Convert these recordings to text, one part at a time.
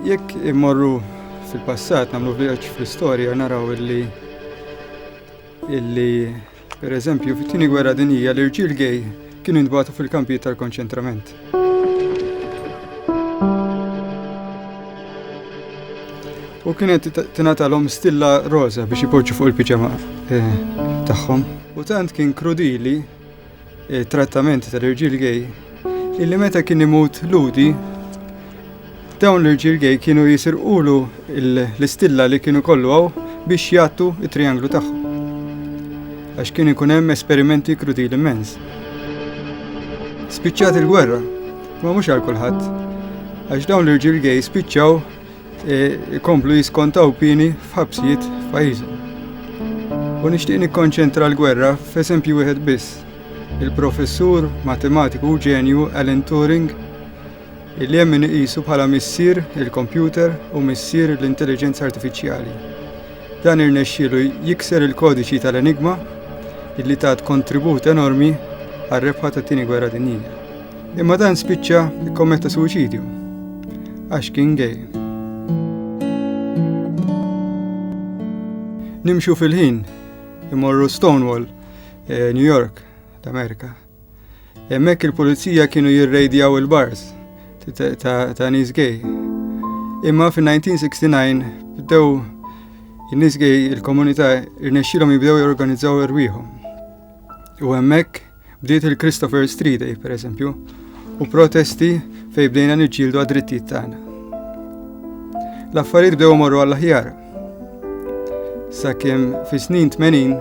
Jekk immorru fil-passat nagħmlu vjaġġ fl-istorja naraw illi illi per eżempju fit-tieni gwerra dinija l-irġiel gej kienu jintbagħtu fil-kampijiet tal-konċentrament. U kienet tingħatalhom stilla roża biex ipoġġu fuq il-piġama eh, tagħhom. U tant kien krudili Trattament tal-irġiel gej illi meta kien imut ludi dawn l-irġiel gej kienu jisirqulu l-istilla li kienu kollu għaw biex jattu it-trianglu tagħhom. Għax kien ikun hemm esperimenti krudili immens. Spiċċat il-gwerra, ma mhux għal kulħadd, għax dawn l-irġiel gej spiċċaw e, ikomplu jiskontaw pieni f'ħabsijiet f'pajjiżhom. U nixtieq nikkonċentra l-gwerra f'eżempju wieħed biss. Il-professur matematiku u ġenju Alan Turing illi hemm iqisu bħala missier il-kompjuter u missier l-intelligenza artifiċjali. Dan irnexxielu jikser il-kodiċi tal-enigma illi tat kontribut enormi għar-rebħa tat-Tieni Gwerra Dinjija. Imma dan spiċċa kkommetta suwiċidju għax kien gay. Nimxu fil-ħin imorru Stonewall, eh, New York, l-Amerika. Hemmhekk il-pulizija kienu jirrejdjaw il-bars ta' nies gay. Imma fin-1969 bdew in-nies gay il-komunità irnexxilhom jibdew jorganizzaw irwieħhom. U hemmhekk bdiet il-Christopher Street Day, per eżempju, u protesti fej bdejna niġġieldu għad-drittijiet tagħna. L-affarijiet bdew morru għall-aħjar. Sakemm fis-snin 80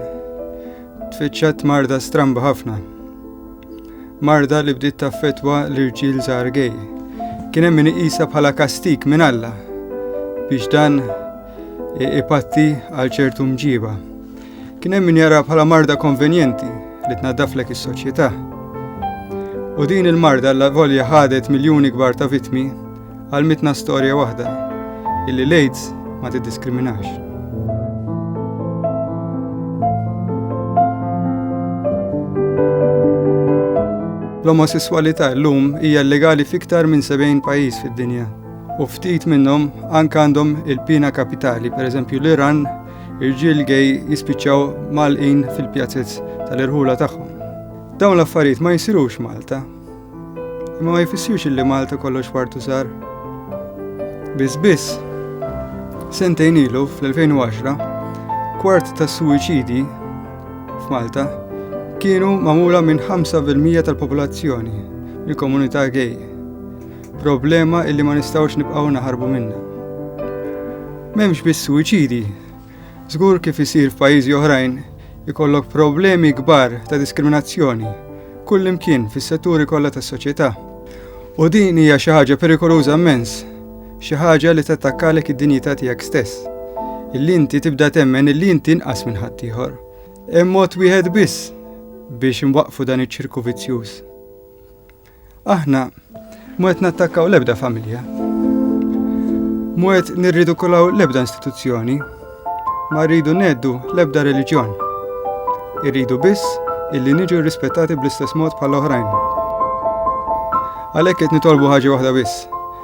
tfittxat marda stramba ħafna. Marda li bdiet taffetwa l-irġiel żgħar gej. Kien hemm min iqisha bħala kastik minn Alla biex dan ipatti għal ċertu mġiba. Kien hemm min jara bħala marda konvenjenti li tnaddaflek is-soċjetà. U din il-marda l volja ħadet miljuni kbar ta' vitmi Għalmitna storja waħda illi l-AIDS ma tiddiskriminax. L-omosessualità llum hija legali fiktar minn 70 pajjiż fid-dinja u ftit minnhom anke għandhom il-pina kapitali, pereżempju l-Iran, irġiel gej jispiċċaw malqin fil-pjazzez tal-irħula tagħhom. Dawn l-affarijiet ma jsirux Malta, Ma ma jfissirx li Malta kollox fartu sar. Biss biss, sentejn ilu fl-2010, kwart ta' suwiċidi f'Malta kienu mamula minn 5% tal-popolazzjoni, il-komunità gay. Problema illi ma nistawx nibqaw naħarbu minna. Memx biss suwiċidi, Żgur kif isir f'pajjiżi oħrajn ikollok problemi kbar ta' diskriminazzjoni kullimkien fis-setturi kollha tas-soċjetà. U din hija xi ħaġa perikoluża mmens, xi ħaġa li tattakkalek id-dinjità tiegħek stess. Illi inti tibda temmen illi inti inqas minn ħaddieħor. Hemm mod wieħed biss biex inwaqqfu dan iċ-ċirku vizzjuż. Aħna mu qed nattakkaw l-ebda familja. Mu qed nirridikulaw l-ebda istituzzjoni. Ma rridu neddu l-ebda reliġjon. Irridu biss illi niġu rispettati bl-istess mod bħal oħrajn. Għalhekk qed nitolbu ħaġa waħda biss